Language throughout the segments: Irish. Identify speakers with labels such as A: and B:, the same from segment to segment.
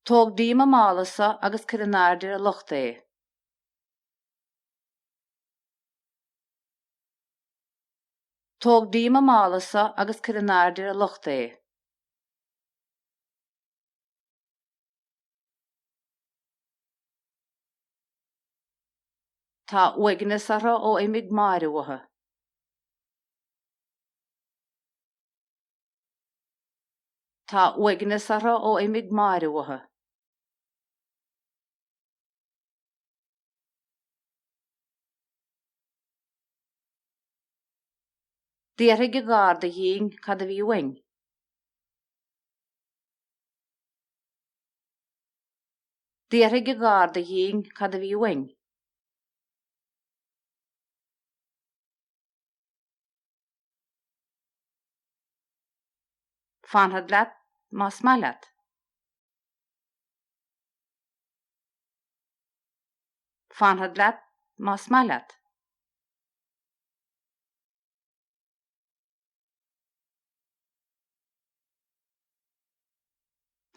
A: Tóg díom an mála so agus cuir in airde ar an lochta é. Tóg díom an mála so agus cuir in airde ar an lochta é. Tá uaigneas orthu ó imigh Máire uathu. Tá uaigneas orthu ó imigh Máire uathu. D'fhiarthaigh an garda dhínn cad a bhí uainn. D'fhiarthaigh an garda dhínn cad a bhí uainn. Fanfad leat más maith leat. Fanfad leat más maith leat.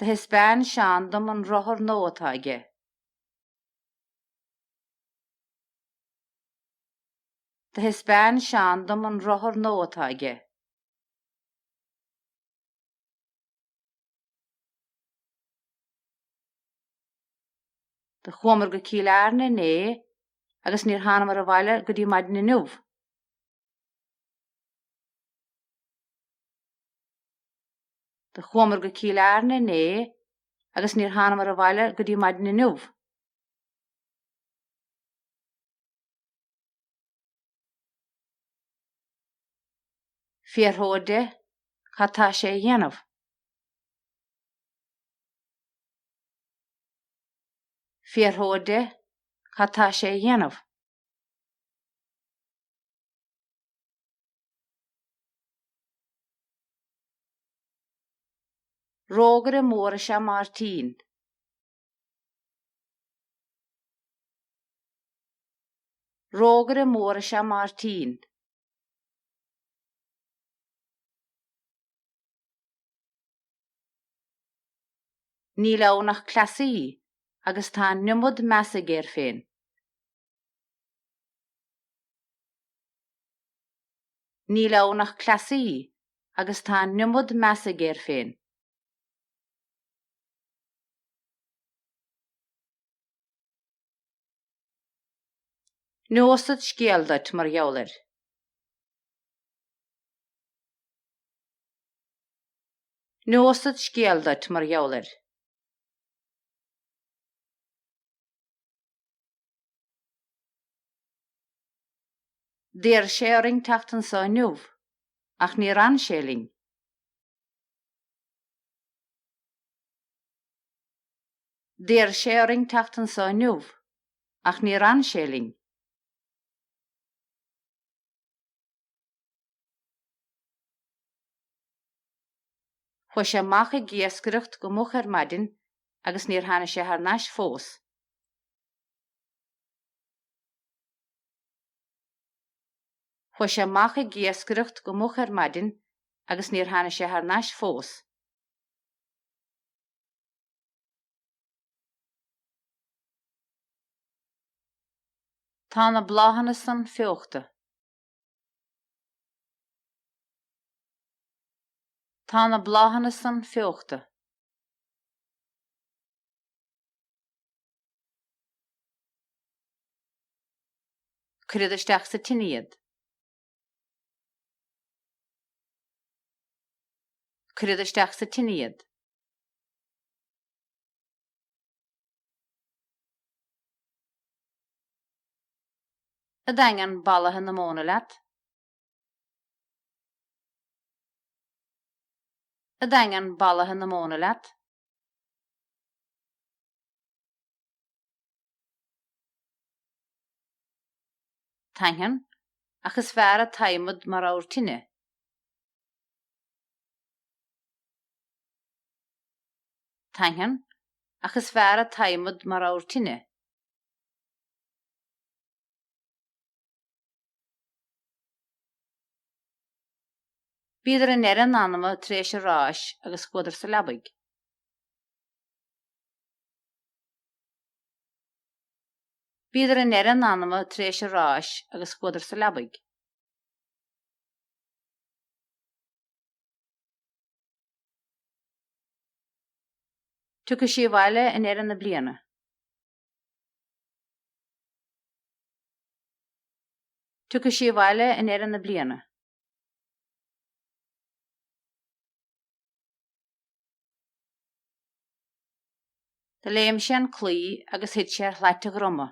A: Do thaispeáin Seán dom an rothar nua atá aige. Do thaispeáin Seán dom an rothar nua atá aige. Do chuamar go Cill Airne inné agus níor thánamar abhaile go dtí maidin inniu. Do chuamar go Cill Airne inné agus níor thánamar abhaile go dtí maidin inniu. Fiarthód de cad tá sé a dhéanamh. Fiarthód de cad tá sé a dhéanamh. Rógaire mór is ea Máirtín. Rógaire mór is ea Máirtín. Níl ann ach cleasaí, agus tá an iomad measa aige air féin. Níl ann ach cleasaí agus tá an iomad measa aige air féin. Neosad scéal duit mar gheall air. Neosad scéal duit mar gheall air. D'iarr sé orainn teacht anso inniu, ach níor fhan sé linn. D'iarr sé orainn teacht anso inniu, ach níor fhan sé linn. Chuaigh sé amach ag iascaireacht go moch ar maidin agus níor tháinig sé thar n-ais fós. Chuaigh sé amach ag iascaireacht go moch ar maidin agus níor tháinig sé thar n-ais fós. Tá na bláthanna san feóchta. Tá na bláthanna san feóchta. Cuirfead isteach sa tine iad. Cuirfead isteach sa tine iad. An dtaithneann balaithe na móna leat? An dtaithneann balaithe na móna leat? Taithneann, ach is fearr an t-adhmad mar abhar tine. Taithneann, ach is fearr an t-adhmad mar abhar tine. Bhíodar i ndeireadh an anama tar éis an ráis agus chuadar sa leabaidh. Bhíodar i ndeireadh an anama tar éis an ráis agus chuadar sa leabaidh. Tiocfaidh sí abhaile i ndeireadh na bliana. Tiocfaidh sí abhaile i ndeireadh na bliana. Do léim sé an claí agus thit sé ar shlait a dhroma.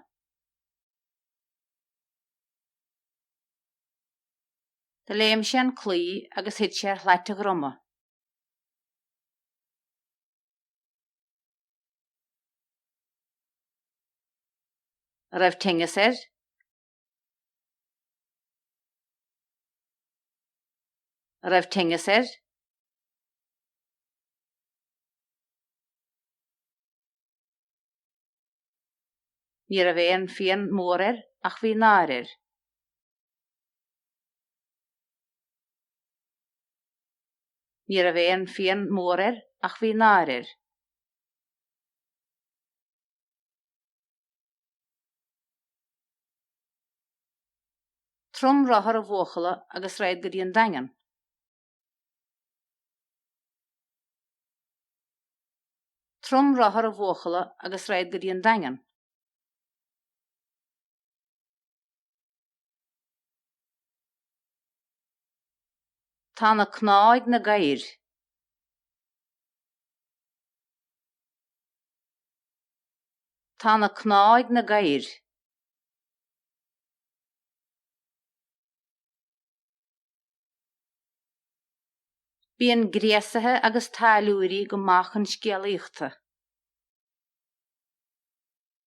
A: Do léim sé an claí agus thit sé ar shlait a dhroma. An raibh tinneas air. An raibh tinneas air. Ní raibh aon phian mór air ach bhí náire air. Ní raibh aon phian mór air ach bhí náire air. Trom rothar an bhuachalla agus raghad go dtí an Daingean. Trom rothar an bhuachalla agus raghad go dtí an Daingean. Tá na cnámha ag na gadhair. Tá na cnámha ag na gadhair. Bíonn gréasaithe agus táilliúirí go maith chun scéalaíochta.